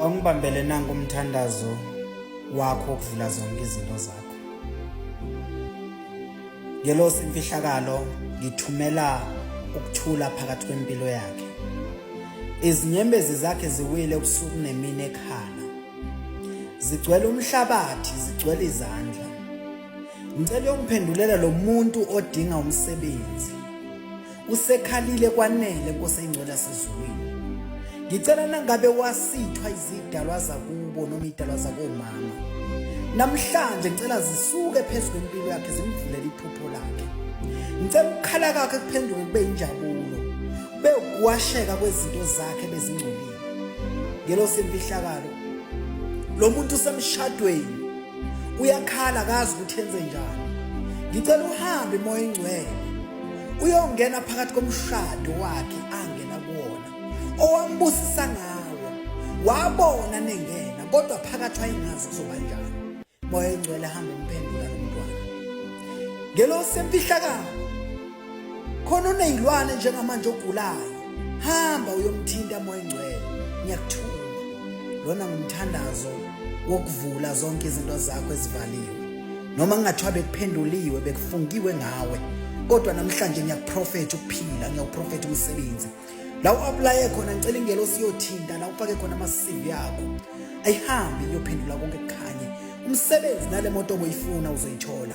Awungibambele nanku umthandazo wakho okuvula zonke izinto zakho. Ngelosi imfihlakalo ngithumela ukuthula phakathi kwempilo yakhe. Izinyembezi zakhe ziwile ubusuku nemini ekhala. Zigcwele umhlabathi, zigcwele izandla. Ngicela ukuphendulela lo muntu odinga umsebenzi. Usekhalile kwanele Nkosi engcwele sezulwini. Ngicela nangabe wasithwa izidalwa zakubo noma idalwa zakomama. Namhlanje ngicela zisuke phezulu kwempilo yakhe zimvulele iphupho lakhe. Ngicela ukukhala kwakhe kuphenduke kube injabulo. Kube ukuwasheka kwezinto zakhe bezingcolile. Ngelo semfihlakalo. Lo muntu usemshadweni uyakhala akazi ukuthi enze njani. Ngicela uhambe moya engcwele. uyongena phakathi komshado wakhe angena kuwona owambusisa ngawo wabona nengena kodwa phakathi wayengazi kuzoba njani moya engcwele hamba umphendula lo mntwana ngelo semfihlakalo khona uneyilwane njengamanje ogulayo hamba uyomthinta moya engcwele ngiyakuthuma lona ngumthandazo wokuvula zonke izinto zakho ezivaliwe noma kungathiwa bekuphenduliwe bekufungiwe ngawe kodwa namhlanje ngiyakuprofetha ukuphila ngiyakuprofetha umsebenzi la u-aplaye khona ngicela ingelosi iyothinta la ufake khona ama-cv yakho ayihambe iyophendula konke kukhanye umsebenzi nale moto obuyifuna uzoyithola